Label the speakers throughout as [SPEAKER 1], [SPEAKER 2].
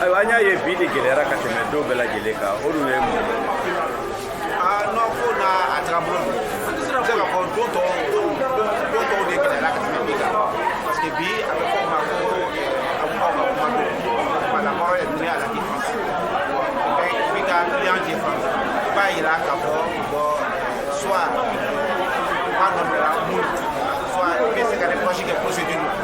[SPEAKER 1] ayiwa an y'a ye bi de gɛlɛyara ka tɛmɛ don bɛɛ lajɛlen kan o dun ye mun ye nɔ ko na a taga bolo don se ka fɔ don tɔw don tɔw de gɛlɛyara ka tɛmɛ bi kan parce que bi a bɛ fɔ o ma ko a kuma ma kuma don wala kɔrɔ ye dunuya la défense b'i ka client défense i b'a yira k'a fɔ bon soit kuma dɔ bɛ la mun soit i bɛ se ka reproche kɛ procédure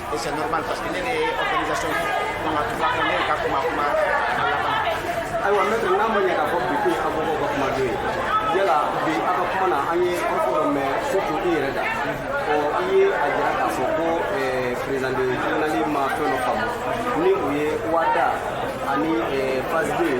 [SPEAKER 1] C'est normal parce que ne bɛ organisation donc a tura ko ne ka kuma kuma a laban. Ayiwa mɛtiri n'a ma ɲɛ k'a fɔ bi ko ye avocat ka kuma don ye yala bi a ka kuma na an ye a fan dɔ mɛn surtout i yɛrɛ da ɔ i ye a jira k'a fɔ ko président de tribunal ma fɛn dɔ faamu ni o ye OHADA ani phase deux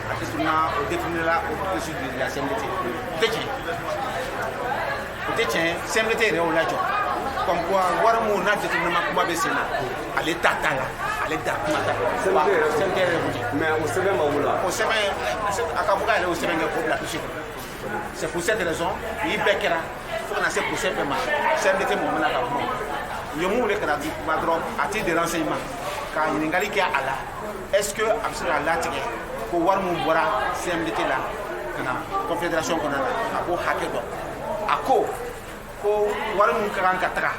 [SPEAKER 1] o tɛ tiɲɛ CMDT yɛrɛ o lajɔ comme quoi wari minnu n'a jateminɛma kuma bɛ sen na ale ta t'a la ale da kuma ta CMDT yɛrɛ mɛ o sɛbɛn ma wula o sɛbɛn a ka fɔ k'a yɛrɛ o sɛbɛn kɛ k'o bila kisi kɔnɔ C'est pour cette raison, nin bɛɛ kɛra fo ka na se procès bɛɛ ma CMDT mɔgɔ ma na ka kuma u ye mun wele ka na di kuma dɔrɔn à titre de renseignement ka ɲininkali kɛ a la est ce que a bɛ se ka latigɛ ko wari mun bɔra CMDT la ka na confédération kɔnɔna na k'a b'o hakɛ dɔn a ko ko wari mun ka kan ka taga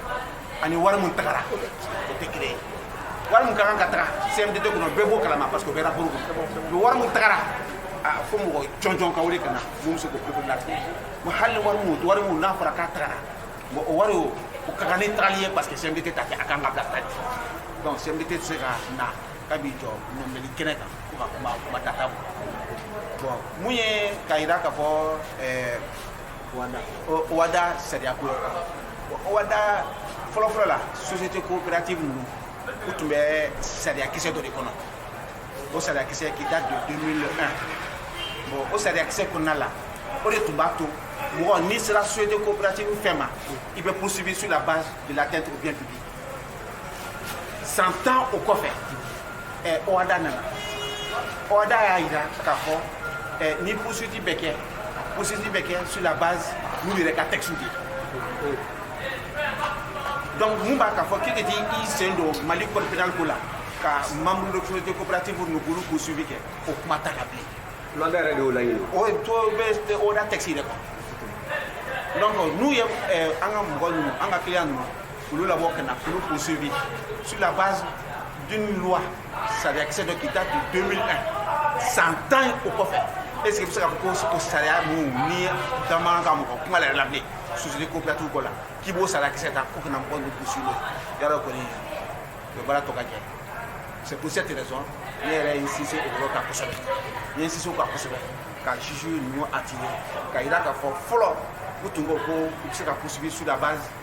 [SPEAKER 1] ani wari mun tagara o tɛ kelen ye wari mun ka kan ka taga CMDT kɔnɔ bɛɛ b'o kalama parce que o bɛ rapport kɔnɔ mais wari mun tagara a fo mɔgɔ jɔnjɔn ka wele ka na mun bɛ se k'o pepe latigɛ bon hali wari mun wari mun n'a fɔra k'a tagara bon o wari o o ka kan ni tagali ye parce que CMDT t'a kɛ a kan ka bila taali donc CMDT tɛ se ka na k'a b'i jɔ nɔminɛli kɛnɛ kan ko ka kuma kuma data bɔ bon mun ye k'a jira k'a fɔ ɛɛ OHADA sariya ko OHADA fɔlɔfɔlɔ la société coopérative ninnu u tun bɛ sariya kisɛ dɔ de kɔnɔ o sariya kisɛ qui date de 2001 bon o sariya kisɛ kɔnɔna la o de tun b'a to mɔgɔ n'i sera société coopérative fɛn ma i bɛ poursuivi sur la base de l'atteinte au bien public san tan o kɔfɛ OHADA nana OHADA y'a jira k'a fɔ ni poursuite bɛ kɛ poursuite bɛ kɛ sur la base n'u yɛrɛ ka texte de ye donc mun b'a k'a fɔ k'e ka t'i sen don mali code pénal ko la ka membre de société coopérative ninnu poursuivi kɛ o kuma ta ka bilen OHADA yɛrɛ de y'o laɲini o ye to bɛ OHADA texte yɛrɛ kɔ donc n'u ye an ka mɔgɔ ninnu an ka client ninnu olu labɔ ka na k'olu poursuivi sur la base d'une loi sariyakisɛ dɔ qui date de 2001 san tan o kɔfɛ est ce que bɛ se k'a fɔ ko o sariya ninnu ni damanan ka mɔgɔ kuma la yɛrɛ la bilen société coopérative ko la k'i b'o sariyakisɛ ta ko ka na mɔgɔ ninnu poursuivi yɔrɔ kɔni o ye baara tɔ ka jɛ c'est pour cette raison ne yɛrɛ ye n sinsin o yɔrɔ kan kosɛbɛ n ye n sinsin o kan kosɛbɛ ka juge ninnu attirer ka jira k'a fɔ fɔlɔ u tun ko ko u bɛ se ka poursuivi sur la base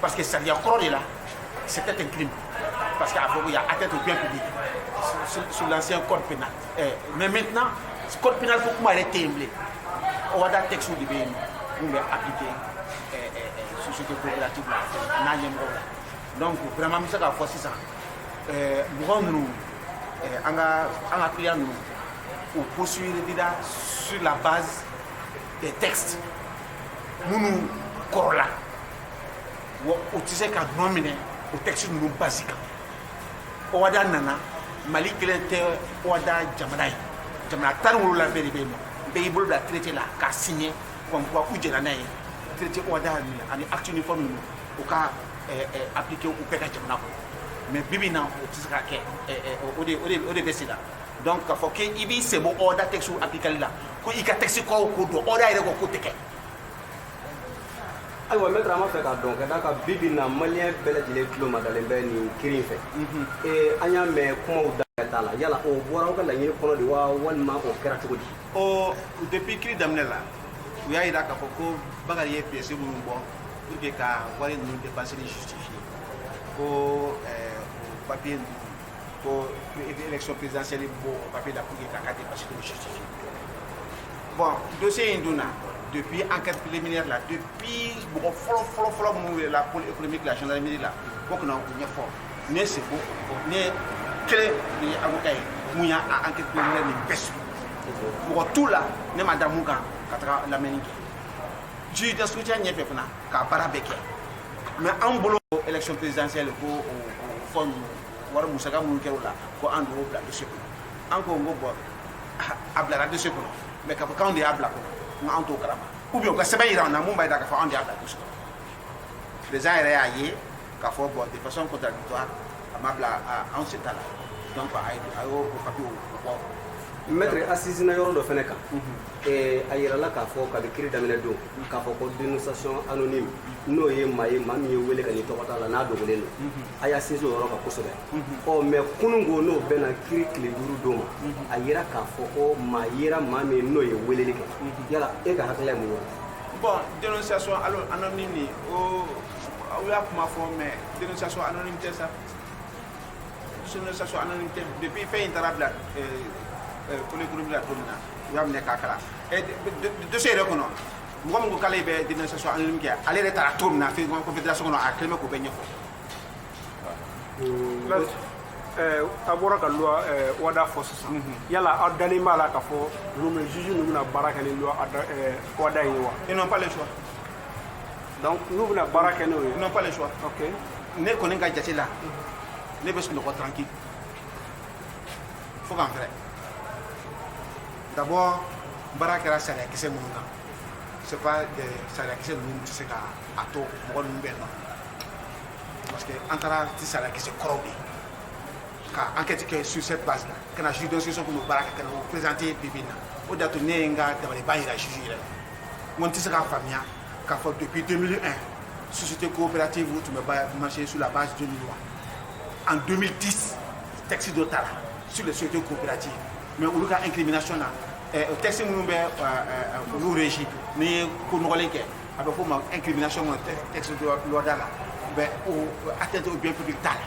[SPEAKER 1] Parce que sariya kɔrɔ de la c'était un crime parce que a fɔ ko y a atteinte au bien public sur l'ancien code pénal eh, mais maintenant code pénal ko kuma yɛrɛ tɛ yen bilen ɔwada texte de bɛ yen mun bɛ appliquer eh, eh, eh, société coopérative la n'a ɲɛmɔgɔ la donc vraiment n bɛ se k'a fɔ sisan eh, mɔgɔ ninnu eh, an ka an ka client ninnu u poursuivira sur la base des textes minnu kɔrɔla wa u tɛ se ka nɔ minɛ o texte ninnu base kan ɔwada nana mali kelen tɛ ɔwada jamana ye jamana tan ni wolowula bɛɛ de bɛ yen n'u bɛɛ y'i bolo bila traité la k'a signé comme quoi u jɛnna n'a ye traité ɔwada ani acte uniforme ninnu u ka eh, eh, appliquer u bɛɛ ka jamana kɔnɔ mais bi bi in na o tɛ se ka kɛ eh, eh, o de o de o de bɛ sen na donc k'a fɔ k'i b'i senbɔ ɔwada texte applicali la ko i ka texte kɔrɔw ko don ɔwada yɛrɛ ko k'o tɛ kɛ ayiwa mɛtɛrɛ an b'a fɛ k'a dɔn ka d'a kan bi bi in na maliyɛn bɛɛ lajɛlen tulo madalen bɛ nin kiri in fɛ an y'a mɛn kumaw da t'a la yala o bɔra aw ka laɲini kɔnɔ de wa walima o kɛra cogo di ɔ depuis kiri daminɛ la u y'a jira k'a fɔ ko bakari ye pièce minnu bɔ pour que ka wari ninnu dépensé ni justifié ko o papier ninnu ko élection présidentielle ye b'o papier la pour ye k'a ka dépense de justifier bon dossier in donna depuis enquête préliminaire la depuis mɔgɔ fɔlɔ fɔlɔ fɔlɔ minnu welela pôle économique la gendarmerie la k'u ka na o ɲɛfɔ ne ye seko ne kelen de ye avocat ye mun y'a a enquête préliminaire nin bɛɛ suivi mɔgɔ t'u la ne ma da mun kan ka taga lamɛnni kɛ juge d'instruction ɲɛfɛ fana k'a baara bɛɛ kɛ mais an bolo élection présidentielle ko fɔ ninnu wari musaka minnu kɛra o la ko anw de y'o bila dossier kɔnɔ an ko n ko bon a bilara dossier kɔnɔ mais k'a fɔ k'anw de y'a bila kɔnɔ n k'an t'o kalama ou bien u ka sɛbɛn yira an na mun b'a yira k'a fɔ anw de y'a bila dossier kɔnɔ président yɛrɛ y'a ye k'a fɔ bon de façon contradictoire a ma bila anw sen t'a la donc a y'o o papier bɔ mɛtre a sinsinna yɔrɔ dɔ fana kan a yirala k'a fɔ kabi kiri daminɛ don k'a fɔ ko dénonciation anonyme n'o ye maa ye maa min ye wele kɛ n'i tɔgɔ t'a la n'a dogolen don mhm. a y'a sinsin o yɔrɔ kan kosɛbɛ mhm. ɔ mais kunun ko n'o bɛnna kiri tile duuru don ma mhm. a yera k'a fɔ ko maa yera maa min n'o ye weleli kɛ yala e ka hakilila ye mun ye bon dénonciation anonyme nin o aw y'a kuma fɔ mais dénonciation anonyme tɛ sa dénonciation anonyme tɛ depuis fɛn in taara bila pôle économique la tuma na, n y'a kalan ne k'a kalan dossier yɛrɛ kɔnɔ, mɔgɔ min ko k'ale bɛ dénonciation anonyme kɛ ale yɛrɛ taara cogo min na fɛn kɔnɔ confédération kɔnɔ a kɛlen bɛ k'o bɛɛ ɲɛfɔ Eh, a bɔra ka loi eh, OHADA fɔ sisan yala aw dalen b'a la k'a fɔ ninnu bɛ juge ninnu bɛna baara kɛ ni loi ada- eh, OHADA in ye wa ils n'ont pas le choix donc n'u bɛna baara kɛ n'o ye n'ont pas le choix ok ne kɔni ka jate la ne bɛ sunɔgɔ tranquille fo ka n fɛrɛ d'abord baara kɛra sariyakisɛ minnu kan c'est pas des sariyakisɛ ninnu tɛ se ka a to mɔgɔ ninnu bɛ nɔ parce que an taara ni sariyakisɛ kɔrɔw de ye ka enquête kɛ sur cette base la ka na juge d'instruction tun bɛ baara kɛ ka na o présenter bi bi in na o de y'a to ne ye n ka dabaliban jira juge yɛrɛ la n ko n tɛ se k'a faamuya K'a fɔ depuis 2001 société coopérative u tun bɛ marché sur la base d'une loi en 2010 texte dɔ tara sur les sociétés coopératives mais olu ka incrimination na eh, texte minnu bɛ eh, olu régi n'i ye ko nɔgɔlen kɛ a bɛ f'o ma incrimination kɔnɔ texte de loi OHADA la bon atteinte au bien public t'a la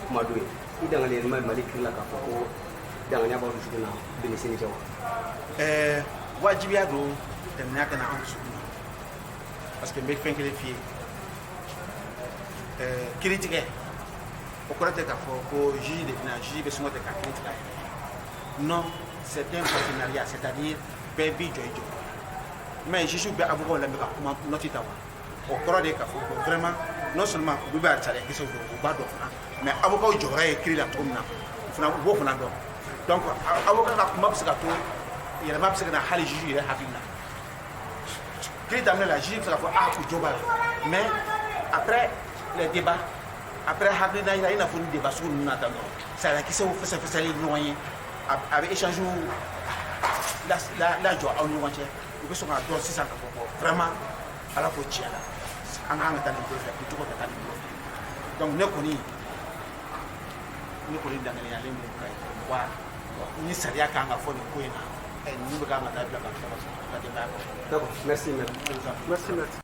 [SPEAKER 1] kuma don ye i dalen bɛ Mali kiri la k'a fɔ ko danganiya b'aw dusukun na bi ni sini cɛ wa ɛɛ wajibiya don danganiya ka na an dusukun na parce que n bɛ fɛn kelen f'i ye ɛɛ kiri tigɛ o kɔrɔ tɛ k'a fɔ ko juge de bɛna juge bɛ son côté ka kiri tigɛ a yɛrɛ ye non c'est un partenariat c'est à dire bɛɛ b'i jɔyɔrɔ jouer mais juge bɛ avocat lamɛn ka kuma note ta wa o kɔrɔ de k'a fɔ ko vraiment non seulement olu bɛ a sariya kisɛw dɔn u b'a dɔn fana mais avocat jɔyɔrɔ ye kiri la cogo min na u fana u b'o fana dɔn donc avocat ka kuma bɛ se k'a to yɛlɛma bɛ se ka na hali juge yɛrɛ hakili la kiri daminɛ la juge bɛ se k'a fɔ ah u jo b'a la mais après les débats après hakilina jira i n'a fɔ ni débat sugu ninnu na tan dɔrɔn sariya kisɛw fɛsɛfɛsɛli ɲɔgɔn ye aw bɛ échange lajɔ aw ni ɲɔgɔn cɛ u bɛ sɔn k'a dɔn sisan k'a fɔ ko vraiment ala ko tiɲɛ na an kan ka taa nin bolo fɛ ko cogo ka taa nin bolo fɛ donc ne kɔni ne kɔni danganiyalen don ka wa ni sariya kan k'a fɔ nin ko in na ninnu bɛɛ kan ka taa bila ka taa u ka denbaya kɔnɔ. D'accord, merci maître. Merci maître.